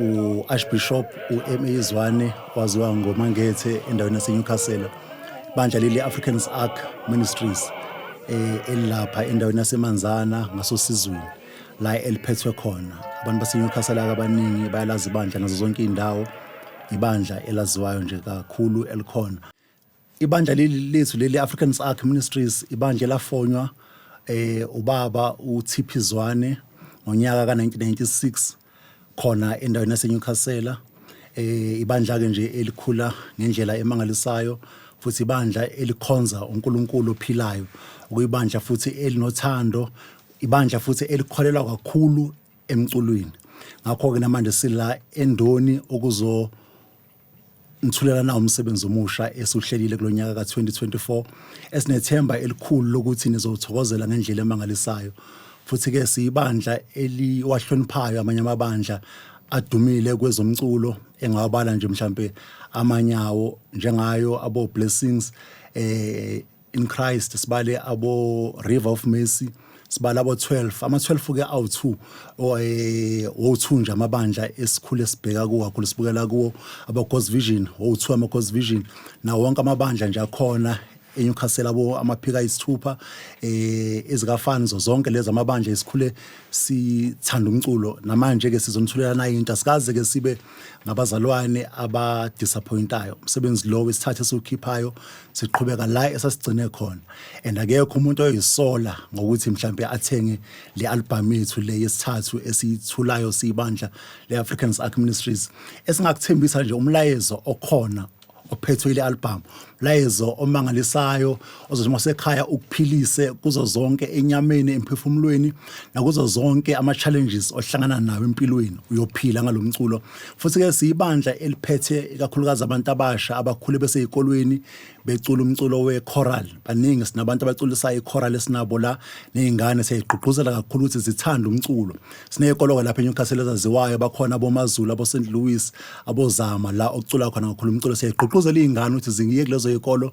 u-archbishop u-ma izwane waziwa ngomangethe endaweni yasenewcastle bandla leli africans ark ministries um elilapha endaweni yasemanzana ngasosizweni la eliphethwe khona abantu basenewcastle ake abaningi bayalazi ibandla nazo zonke iy'ndawo ibandla elaziwayo nje kakhulu elikhona ibandla leli lethu leli Africans Ark Ministries ibandla lafonywa eh ubaba uThiphi Zwane ngonyaka ka1996 khona endaweni yaseNewcastle eh ibandla ke nje elikhula ngendlela emangalisayo futhi ibandla elikhonza uNkulunkulu ophilayo ukuyibandla futhi elinothando ibandla futhi elikholelwa kakhulu emculweni ngakho ke namanje sila endoni ukuzo Ngithulela nawo umsebenzi omusha esiwuhlelile kulo nyaka ka-2024 esinethemba elikhulu lokuthi nizowuthokozela ngendlela emangalisayo. Futhi-ke siyibandla eliwahloniphayo amanye amabandla adumile kwezomculo engawabala nje mhlampe amanye awo njengayo abo-Blessings eh in Christ sibale abo River of Mercy sibala abo 12 ama 12 ke awu 2 oye wo2 nje amabandla esikhule sibheka kuwo kakhulu sibukela kuwo abo God's Vision wo2 ama God's Vision nawo wonke amabandla nje akhona eNewcastle abo amaphika isithupha eh ezikafani zonke lezi amabandla esikhule sithanda umculo namanje ke sizomthulela naye into asikaze ke sibe ngabazalwane abadisappointayo umsebenzi lo wesithathe esiwukhiphayo siqhubeka la esasigcine khona and akekho umuntu oyisola ngokuthi mhlambe athenge le album yethu le yesithathu esiyithulayo siyibandla le Africans Arc Ministries esingakuthembisa nje umlayezo okhona ophethwe ile album layezo omangalisayo ozothi masekhaya ukuphilise kuzo zonke enyameni emphefumulweni nakuzo zonke ama challenges ohlangana nawo empilweni uyophila ngalomculo Futhi-ke siyibandla eliphethe ikakhulukazi abantu abasha abakhule beseyikolweni becula umculo we-choral. Baningi sinabantu abaculisayo i-choral esinabo la ney'ngane siyayigqugquzela kakhulu ukuthi zithande umculo. Siney'koloka lapha eNewcastle ezaziwayo bakhona aboMaZulu, aboSt Louis, aboZama la okucula khona kakhulu umculo. Siyayigqugquzela iy'ngane ukuthi ziyeke kulezo y'kolo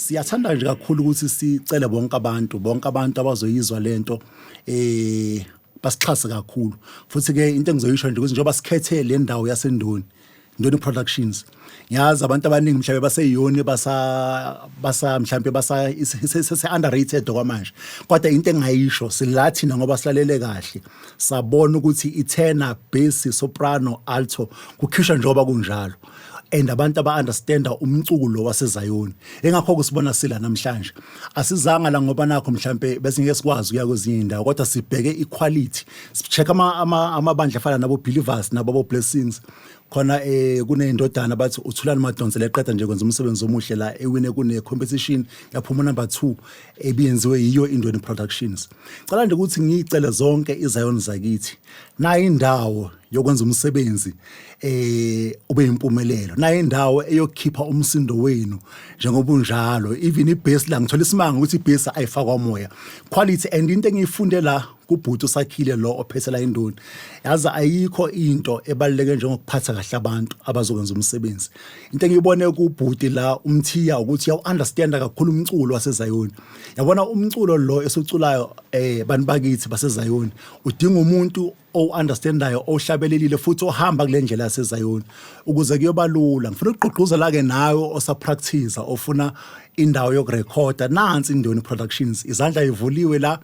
Siyathanda nje kakhulu ukuthi sicele bonke abantu bonke abantu abazoyizwa lento eh basixhase kakhulu futhi ke into engizoyisho nje ukuthi njengoba sikhethe le ndawo yasendoni Ndoni Productions ngiyazi abantu abaningi mhlawumbe baseyiyoni basa basa mhlawumbe basa sese underrated okwamanje kodwa into engayisho sila thina ngoba silalele kahle sabona ukuthi ithena bass soprano alto kukhishwa njengoba kunjalo and abantu aba-understanda umcuku lo wasezayoni engakho-ke sibona sila namhlanje asizanga la ngoba nakho mhlawumpe besingeke sikwazi ukuya kwezinye iy'ndawo kodwa sibheke iquality si-check amabandla afana nabo-believers nababo-blessings khona eh kuneyindodana bathi uthulani madonsela eqeda nje kwenza umsebenzi omuhle la ewine kune competition yaphuma number 2 ebiyenziwe yiyo indweni productions cela nje ukuthi ngicele zonke izayoni zakithi nayi indawo yokwenza umsebenzi eh ube impumelelo naye indawo eyokhipha umsindo wenu njengoba unjalo even ibase la ngithola isimanga ukuthi ibase ayifakwa moya quality and into engiyifunde la kubhuti usakhile lo ophethela indoni yazi ayikho into ebaluleke njengokuphatha kahle abantu abazokwenza umsebenzi into engiyibone kubhuti la umthiya ukuthi yawu understand kakhulu umculo wasezayoni yabona umculo lo esuculayo eh bantu bakithi basezayoni udinga umuntu owu-understandayo ohlabelelile futhi ohamba kule ndlela yasezayoni ukuze kuyoba lula ngifuna ukugqugquzela-ke nawe osaprakthiza ofuna indawo yokurekhoda nansi indoni productions izandla ivuliwe la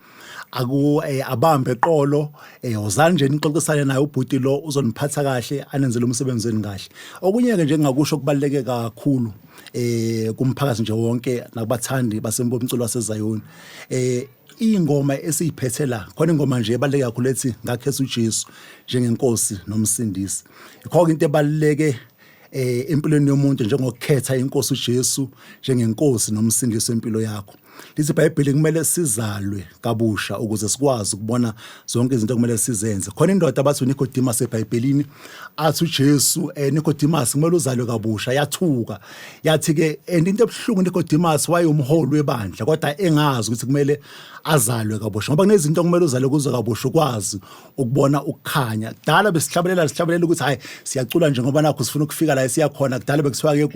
aku eh, abambe eqolo eh, wozani nje nixoxisane naye ubhuti lo uzoniphatha kahle anenzele umsebenzi wenu kahle okunye-ke nje ngingakusho kubaluleke kakhulu eh kumphakathi nje wonke nakubathandi basembo umculo wasezayoni eh ingoma esiyiphethe la khona ingoma nje ebaluleke kakhulu ethi ngakhetha uJesu njengenkosi nomsindisi ikho into ebaluleke eh empilweni yomuntu njengokukhetha inkosi uJesu njengenkosi nomsindisi wempilo yakho lithi iBhayibheli kumele sizalwe kabusha ukuze sikwazi ukubona zonke izinto kumele sizenze khona indoda abathi uNicodemus eBhayibhelini athi uJesu eh Nicodemus kumele uzalwe kabusha yathuka yathi ke and into ebuhlungu Nicodemus wayumholi webandla kodwa engazi ukuthi kumele azalwe kabusha ngoba kunezinto okumele uzalwe kuzo kabusha ukwazi ukubona ukukhanya kudala besihlabelela sihlabelela ukuthi hayi siyacula nje ngoba nakho sifuna ukufika la siyakhona kudala bekuthiwa ke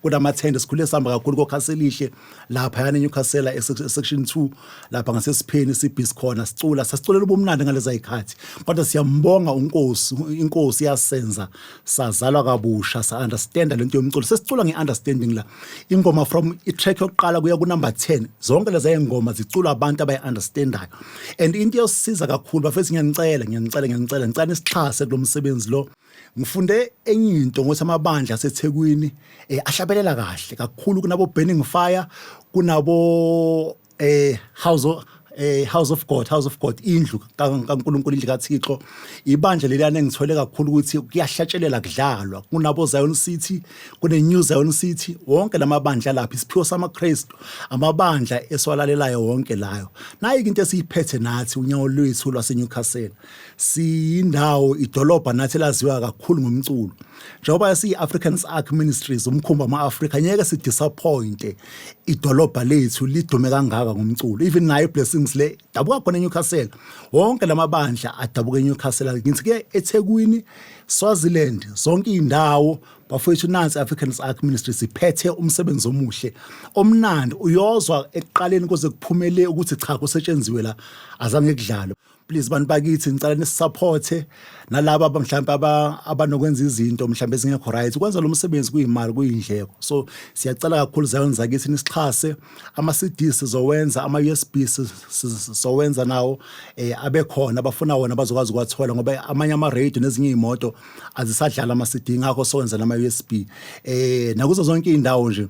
kunamathende sikhule sihamba kakhulu kokhaselihle lapha yana eNewcastle esection 2 lapha ngasesipheni sibhizi khona sicula sasiculela ubumnandi ngaleza ikhathi kodwa siyambonga uNkosi inkosi yasenza sazalwa kabusha sa understand lento yomculo sesicula ngeunderstanding la ingoma from itrack yokuqala kuya ku number 10 zonke leza ingoma ziculwa abantu abayi understandayo and into yosiza kakhulu bafethu ngiyanicela ngiyanicela ngiyanicela ngicela isixhase kulomsebenzi lo ngifunde enye into ngothi amabandla aseThekwini eh, ahlabelela kahle kakhulu kunabo Burning Fire kunabo eh House of eh House of God House of God indlu kaNkuluNkulu indlu kaThixo ibandla leliyane ngithole kakhulu ukuthi kuyahlatshelela kudlalwa kunabo Zion City kune New Zion City wonke lamabandla lapha isiphiwo samaKristu amabandla eswalalelayo wonke layo nayi into esiyiphethe nathi unyawo lwethu lwaseNewcastle siyindawo idolobha nathi laziwa kakhulu ngomculo njengoba siyi-africans arc ministries umkhumbi ama-afrika ngeke sidisappointe idolobha lethu lidume kangaka ngomculo even nayo iblessings le dabuka khona enewcastle wonke la mabandla adabuka enewcastle ngithi ke ethekwini swaziland zonke iy'ndawo bafowethu nansi africans arc ministries iphethe umsebenzi omuhle omnandi uyozwa ekuqaleni kuze kuphumele ukuthi cha kusetshenziwe la azange kudlalwe please bantu bakithi ngicela nisisupporte nalaba mhlawumbe abanokwenza izinto mhlawumbe ezingekho right ukwenza lo msebenzi kuyimali kuyindleko so siyacela kakhulu zayoni zakithi nisixhase ama-cd sizowenza ama-usb sizowenza nawo um abekhona abafuna wona bazokwazi ukuwathola ngoba amanye ama-radio nezinye iy'moto azisadlala ama-cd ngakho sowenza nama-usb um eh, nakuzo zonke iy'ndawo nje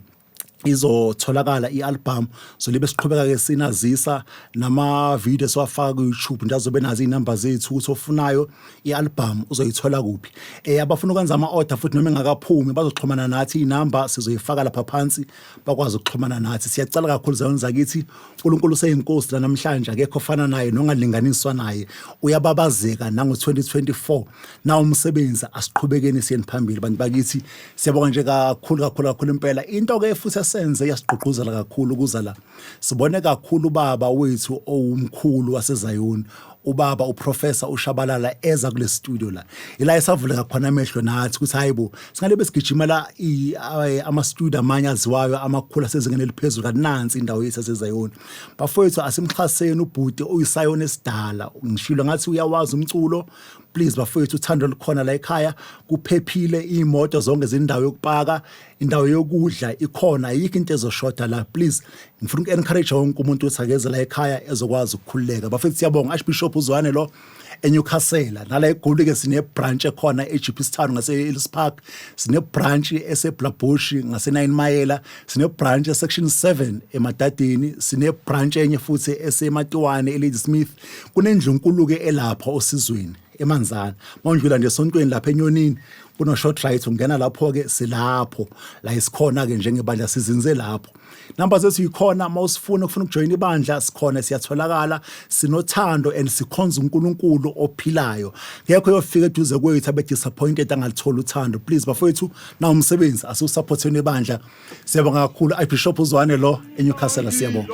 izotholakala i-albhamu so libe siqhubeka-ke sinazisa nama-video esiwafaka ku-youtube nje azobe nazi iy'namba zethu ukuthi ofunayo i-albhamu uzoyithola kuphi um abafuna ukwenza ama-order futhi noma engakaphumi bazoxhumana nathi iy'namba sizoyifaka lapha phansi bakwazi ukuxhumana nathi siyacela kakhulu zayoni zakithi unkulunkulu useyinkosi lanamhlanje akekho ofana naye nongalinganiswa naye uyababazeka nango-2024 nawo umsebenzi asiqhubekeni siyeni phambili bantu bakithi siyabonga nje kakhulu kakhulu kakhulu impela into ke futhi esenze yasigqugquzela kakhulu ukuza la sibone kakhulu ubaba wethu owumkhulu wasezayoni ubaba uprofessor ushabalala eza kule studio la ila esavuleka khona amehlo nathi ukuthi hayibo singale besigijimela ama studio amanye aziwayo amakhulu asezingeni eliphezulu kanti nansi indawo yethu asezayoni bafowethu asimxhaseni ubhuti uyisayona esidala ngishilo ngathi uyawazi umculo please bafowethu uthando lukhona la ekhaya kuphephile imoto zonke zindawo yokupaka indawo yokudla ikhona ayikho into ezoshoda la please ngifuna uku-encourage wonke umuntu ukuthi akeze la ekhaya ezokwazi ukukhululeka bafethu siyabonga archbishop uzwane lo enyukhasela nala egolike sine-branch ekhona e-gps town ngase-ellis park sine-branch eseblabushi ngase-nine mayela sine-branch esection seven emadadini sine-branch enye futhi esematiwane elady smith kunendlu enkulu-ke elapha osizweni emanzana mawundlula nje esontweni lapha enyonini kuno-short right ungena lapho-ke silapho la isikhona-ke njengebandla sizinze lapho namba zethu yikhona uma usifuna ufuna ukujoyina ibandla sikhona siyatholakala sinothando and sikhonza unkulunkulu ophilayo ngekho yofika eduze kwethu abe-disappointed angalitholi uthando please bafowethu nawo umsebenzi asiwusaphotheni ibandla siyabonga kakhulu ibishop uzwane lo enewcastle siyabonga